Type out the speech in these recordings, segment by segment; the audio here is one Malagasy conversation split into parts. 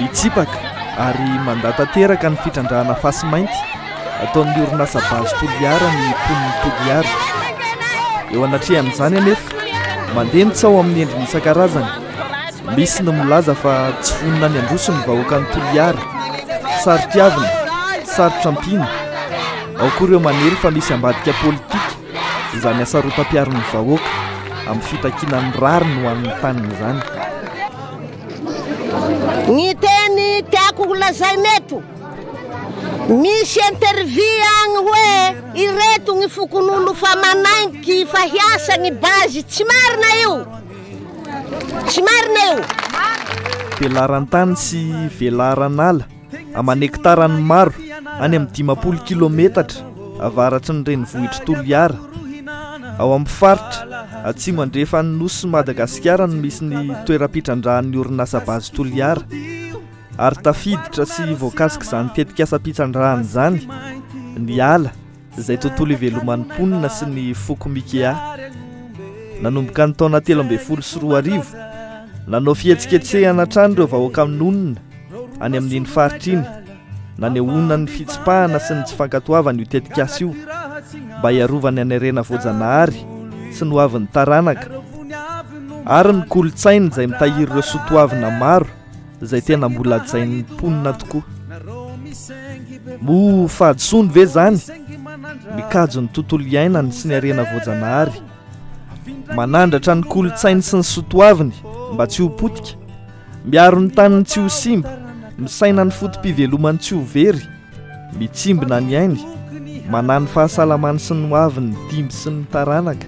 Mitsipaka ary mandà tanteraka ny fitrandrahana fasimainty ataon'ny orinasa Base Toliara ny mponin'i Toliara. Eo anatrehan'izany anefa, mandeha ny tsaho amin'ny endriny isan-karazany. Misy ny milaza fa tsy vonona ny handroso ny vahoakan'i Toliara, saro-piavina, sarotra ampiana. Ao koa ireo manery fa misy ambadika politika. izany hasarotam-piaron'ny vahoaka amin'ny fitakiana ny rariny ho an'ny taniny izany. Ny teny tiako holazaina eto, misy interview agny hoe ireto ny fokon'olo fa manaiky fa hiasa ny base, tsy marina io, tsy marina io. Velaran-tany sy velaran-ala. aman' hektarany maro any amin'ny dimampolo kilometatra avaratsy ny renivohitr'i Toliara, ao amin'ny faritra atsimo andrefan'ny nosin'i Madagasikara no misy ny toeram-pitrandrahan'ny orinasa Base Toliara ary tafiditra sy voakasik'izany tetikasam-pitrandrahana izany ny ala izay tontolo iveloman'ny mponina sy ny foko Mikea. Nanomboka ny taona telo ambin'ny folo sy roa arivo, nanao fihetsiketsehana hatrany ireo vahoaka minonina any amin'iny faritra iny, nanehoana ny fitsipahana sy ny tsy fankatoavana io tetikasa io mba hiarovany any harena voajanahary sy ny hoavin'ny taranaka ary ny kolontsainy izay mitahiry ireo soatoavina maro izay tena mbola hajain'ny mponina tokoa mo fahadisoany ve zany mikajy ny tontolo iainany sy ny arena voajanahary manandratra ny kolotsainy sy ny sotoaviny mba tsy ho potika miaro ny taniny tsy ho simba misaina ny fotom-pivelomany tsy ho very mitsimbina ny ainy manany fahasalamany sy ny hoaviny dimby sy ny taranaka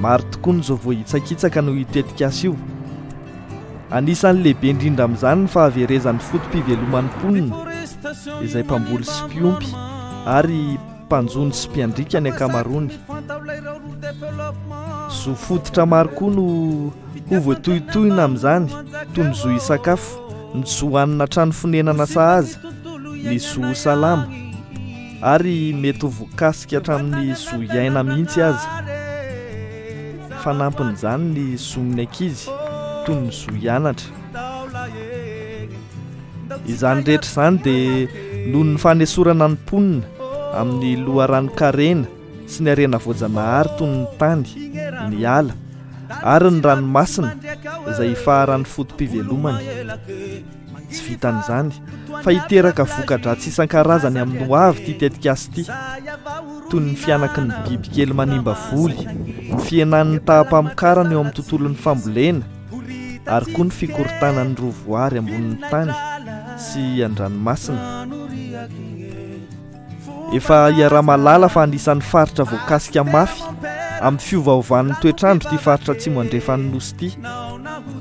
Maro tokoa ny izao voahitsakitsaka noho io tetikasa io. Anisan'ny lehibe indrindra amin'izany ny fahaverezan'ny foto-piveloman'ny mponina, izay mpamboly sy mpiompy ary mpanjono sy mpiandriaka ny ankamaroany. Zo fototra maro koa no ho voatohitohina amin'izany, toy ny zo hisakafo, ny zo hanina trano fonenana sahaza, ny zo salama. ary mety ho voakasika hatramin'ny zo iaina mihitsy aza. Fanampin'izany ny zon'ny ankizy toy ny zo hianatra. Izany rehetra izany dia noho ny fanesorana ny mponina amin'ny loharanon-karena sy ny harena voajanahary toy ny tany, ny ala ary ny ranomasina izay ifaharan'ny foto-pivelomany. Tsy vitan'izany fa hiteraka voka-dratsy isan-karazany amin'ny ho avy ity tetikasa ity, toy ny fihanaky ny bibikely manimba voly, ny fihenan'ny taham-pamokarana eo amin'ny tontolon'ny fambolena ary koa ny fikorontanan'ny roa voary ambonin'ny tany sy an-dranomasina. Efa iaraha-mahalala fa anisan'ny faritra voakasika mafy amin'ny fiovaovan'ny toetr'andro ity faritra atsimo andrefan'ny nosy ity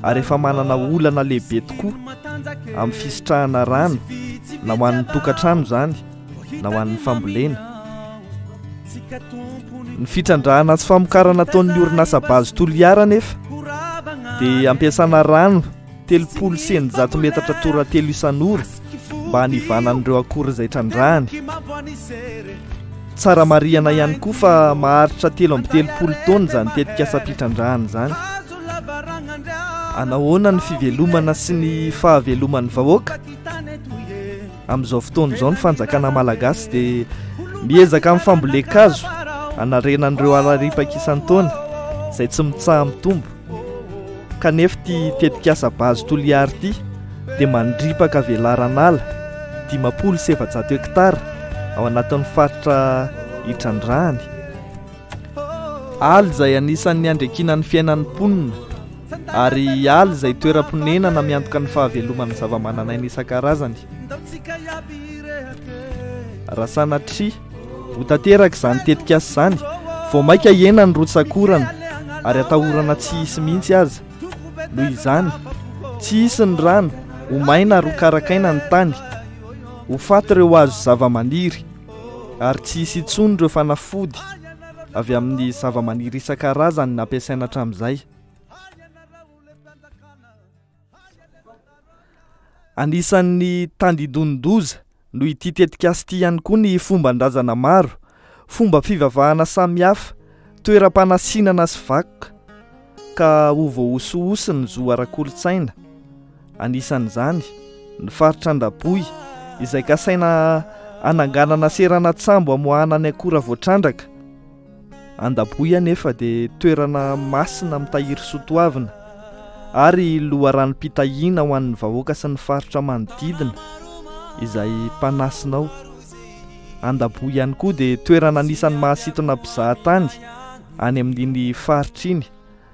ary efa manana olana lehibe tokoa amin'ny fisitrahana rano na ho an'ny tokantrano izany na ho an'ny fambolena ny fitrandrahana sy famokarana ataon'ny orinasa bazy toliara nefa dia ampiasana rano telopolo sy eninjato metatra toratelo isan'ora mba hanivanan'ireo akora izay trandrahany. Tsara marihana ihany koa fa maharitra telo amby telopolo taona izany tetikasam-pitrandrahana izany. Anahoana ny fivelomana sy ny fahaveloman'ny vahoaka? Amin'izao fotoana izao ny fanjakana malagasy dia miezaka amin'ny fambolen-kazo hanarenan'ireo alarimpaka isan-taona izay tsy mitsaha-mitombo. kanefa ity tetikasa Base Toliary ity dia mandripaka velaran'ala dimampolo sy efajato hektara ao anatin'ny faritra itrandrahany. Ala izay anisan'ny andrekina ny fiainan'ny mponina ary ala izay toeram-ponenana miantoka ny fahaveloman'ny zavamananaina isan-karazany. Raha sanatria Ho tanteraka izany tetikasa izany vao mainka hihena ny rotsak'orana ary atahorana tsy hisy mihitsy aza. Noho izany, tsy hisy ny rano, ho maina ary ho karakaina ny tany, ho faty ireo hazo sy zavamaniry ary tsy hisy intsony ireo fanafody avy amin'ny zavamaniry isan-karazany nampiasaina hatramin'izay. Anisan'ny tandindonin-doza noho ity tetikasa ity ihany koa ny fomban-drazana maro, fomba fivavahana samihafa, toeram-panasinana sy vakoka ka ho voahosihosy ny zo ara-kolontsaina. Anisan'izany ny faritra Andaboy izay kasaina hananganana seranan-tsambo hamoahana ny akora voatrandraka. Andaboy anefa dia toerana masina mitahiry soatoavina ary loharanom-pitahiana ho an'ny vahoaka sy ny faritra manodidina izay mpanasina ao. Andaboy ihany koa dia toerana anisan'ny mahasintona mpizahatany any amin'iny faritra iny.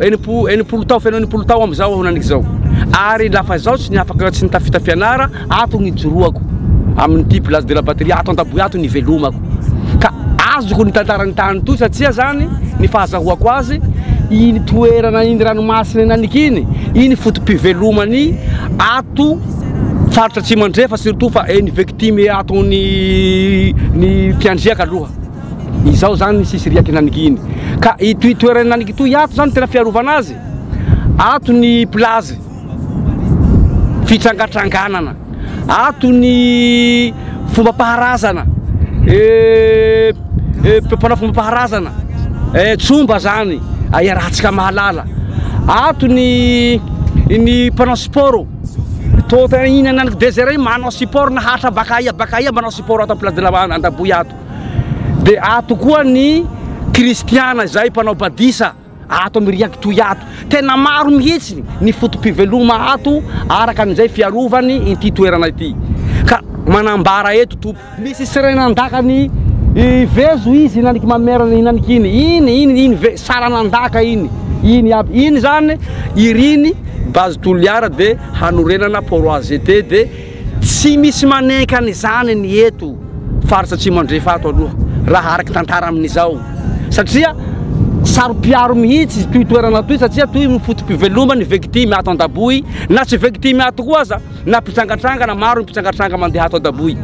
Enim-po, enimpolo tao, feno enimpolo tao am zao aho nanik zao. Ary lafa zaho tsy niafaka tsy nitafita fianara, ato ny ijoroako. Amin ty place de la patrie ato Antaboy ato ny ivelomako. Ka azoko ny tantaran tany toy satria zany ny fahazahoako azy, iny toerana iny ranomasina iny anik iny, iny foto pivelomany ato faritra atsimo andrefa surtout fa eny victime ato ny ny mpiandriaka aloha. Izao zany ny sisiriaky nanigy iny ka itoy toerany nanigy itoy ato zany tena fiarovana azy ato ny plazy fitrangatranganana ato ny fomba paharazana e eh, eh, mpanao fomba paharazana e eh, tsomba zany ahiarahantsika mahalala ato ny ny mpanao sport toa iny nanigy desert manao sport na hatra baka aia baka aia manao sport ato am plazy de la andaboy ato Dia ato koa ny kristiana izay mpanao badisa ato amin'ny riaky toy ato. Tena maro mihitsy ny foto-piveloma ato araka an'izay fiarovany ity toerana ity. Ka manambara eto Tompo. Misy serain andaka ny vezo izy hinaniky mamerana hinaniky iny iny iny iny ve saran andaka iny iny aby iny zany iriny base Toliara dia hanorenana port AZT dia Tsy misy manenka an'izany ny eto faritra Atsimo Andrefa ato aloha raha araka ny tantara amin'izao satria saro-piaro mihitsy itoy toerana itoy satria toy ny foto-piveloman'ny victime ato Andaboy na tsy victime ato koa aza na mpitrangatrangana maro ny mpitrangatranga mandeha ato Andaboy.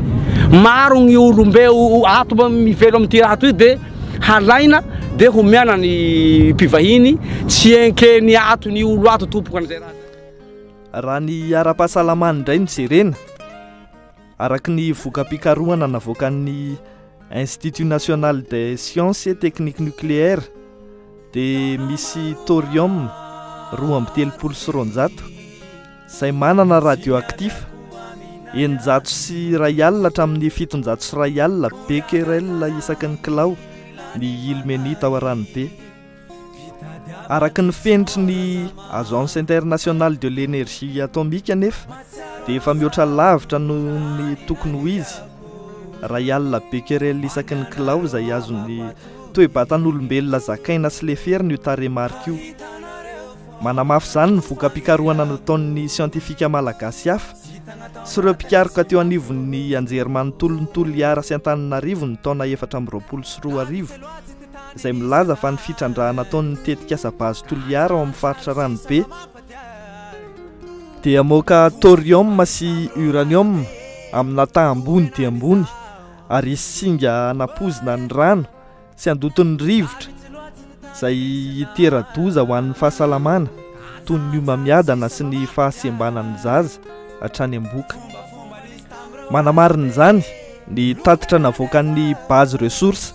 Maro ny olombe ato mivelo amin'ity raha itoy dia halaina dia homehana ny mpivahiny tsy enkeny ato ny olo ato tompoko an'izay raha zay. Raha ny ara-pahasalamany indray no jerena, araka ny voka-pikarohana navoakan'ny Institut National des Sciences et Techniques Nucléaires dia misy thorium roa amby telopolo sy roanjato izay manana radioactif eninjato sy iray alina hatramin'ny fitonjato sy iray alina becquerel isaky ny kilao ny ilmenite ao Aranobe. Araka ny fenitry ny Agence Internationale de l'Energie Atomique anefa dia efa mihoatra lavitra noho ny tokony ho izy raha i alina becquerel isaky ny kilao izay azon'ny toe-batan'olombelona zakaina sy leferina io tarehimarika io. Manamafy izany ny voka-pikarohana nataon'ny siantifika malagasy hafa sy ireo mpikaroka teo anivon'ny anjerimanontolon'ny Toliara sy Antananarivo ny taona efatra amby roapolo sy roa arivo. izay milaza fa ny fitrandrahana ataon'ny tetikasa Base Toliara ao amin'ny faritra Ranobe dia mamoaka thorium sy uranium amina taha ambony dia ambony ary hisy singa hanapozina ny rano sy handoton'ny rivotra izay hitera-doza ho an'ny fahasalamana toy ny homamiadana sy ny fahasembanan'ny zaza hatrany am-boka. Manamarina izany ny tatitra navoakan'ny Base Ressources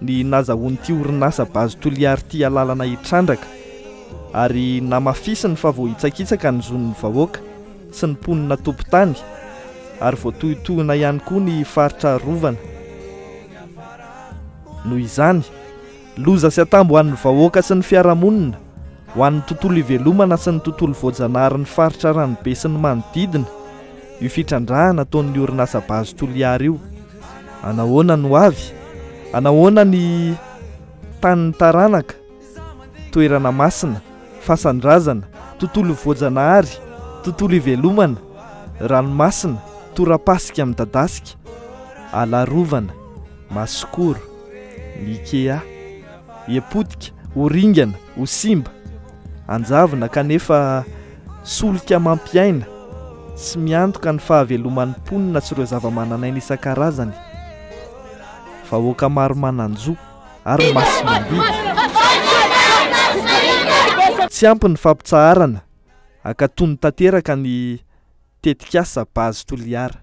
ny nazahoan'ity orinasa Base Toliara ity alalana hitrandraka ary namafisiny fa voahitsakitsaka ny zon'ny vahoaka sy ny mponina tompon-tany ary voatohintohina ihany koa ny faritra arovana. Noho izany, loza sy atambo ho an'ny vahoaka sy ny fiarahamonina, ho an'ny tontolo ivelomana sy ny tontolo voajanaharin'ny faritra Ranobe sy ny manodidina io fitrandrahana ataon'ny orinasa Base Toliara io. anahoana ny ho avy anahoana ny tanin'ny taranaka toerana masina fasan-drazana tontolo voajanahary tontolo ivelomana ranomasina torapasika midadasika alarovana masokoro mikea epotika ho ringana ho simba Anjavona kanefa solika mampiaina sy miantoka ny fahaveloman'ny mponina sy ireo zavamananaina isan-karazany, vahoaka maro manan-jo ary masimandidy. Tsy ampy ny fampitsaharana, ankatony tanteraka ny tetikasa Base Toliara.